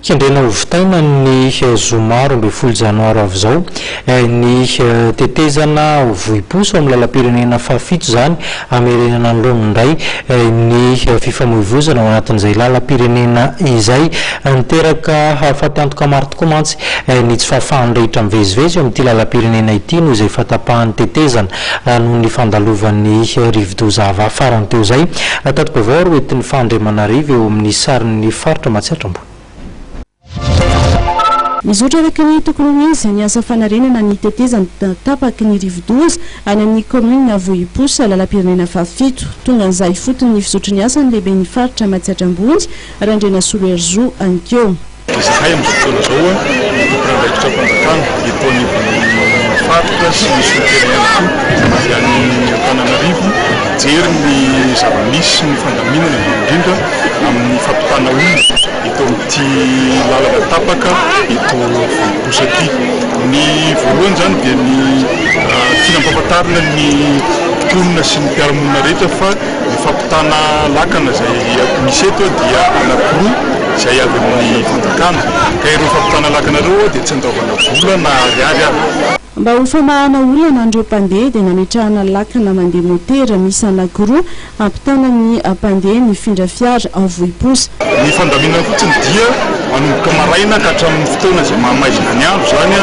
Kendrena ho vitaina ny zoma roa ambin'ny folo janoary avy izao ny tetezana vohipo sy ao amin'ny lalam-pirenena fahafito izany hamerenana ny laoniny indray ny fifamoivoizana ao anatin'izay lalam-pirenena izay. Niteraka hafatantoka maro tokoa mantsy ny tsy fahafahan'ny rehetra mivezivezy eo amin'ity lalam-pirenena ity noho izay fahatapahan'ny tetezana noho ny fandalovan'ny rivodoza Ava farany teo izay. Tati-baovao ary hoentin'i Fah Andriamanarivo eo amin'ny sarin'ny faritra Matsiatra Ambony. Mizotra araka ny tokony ho izy ny asa fanarenana ny tetezana tapaky ny rivodoza any amin'ny kaominina Vohiposy, lalam-pirenena fahafito. Tonga an'izaho ifotony ny fizotry ny asa ny lehiben'ny faritra Matsiatra Ambony, Randrianasolo Herizo, anikeo. Izahay amin'izao fotoana izao dia tompon'andraikitram-panjakana eto anivon'ny faritra sy ny sous-préfet ihany koa avy any Antananarivo mijery ny zava-misy sy ny fandaminana indrindra indrindra amin'ny fampitana olona eto amin'ity lalana tapaka eto Vonibosak'i. Ny voalohany izany dia ny tiana ampahafantarina ny mponina sy ny mpiara-monina rehetra fa. Ny fampitana lakana izay misy eto dia anankiroa izay avy amin'ny fanjakana, ka ireo fampitana lakana ireo dia tsy andoavana vola na ariary aza. Mba ho famahana olana an'ireo mpandeha dia nametrahana lakana mandeha motera miisa anankiroa hampitana ny mpandeha mifindra fiara ao Vohiposa. Ny fandaminana fotsiny dia manomboka maraina ka hatramin'ny fotoana izay maha maizina ny andro izany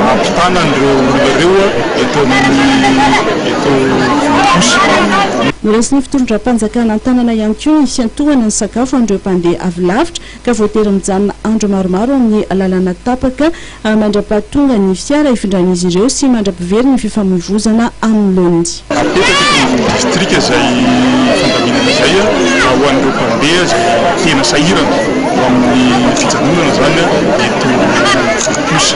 no hampitana an'ireo olona ireo eto amin'ny. Noraisin'ny fitondram-panjakana an-tanana ihany koa ny hiantohana ny sakafo ho an'ireo mpandeha avy lavitra ka voatery mijanona andro maromaro amin'ny lalana tapaka mandra-pahatongan'ny fiara hifindran'izy ireo sy mandra-pivery ny fifamoivozana amin'ny laoniny. Hapetraka eto ambony distrika izay fandaminana izay ho an'ireo mpandeha izay tena sahirana ho amin'ny fijanonana izany eto Ampotosy.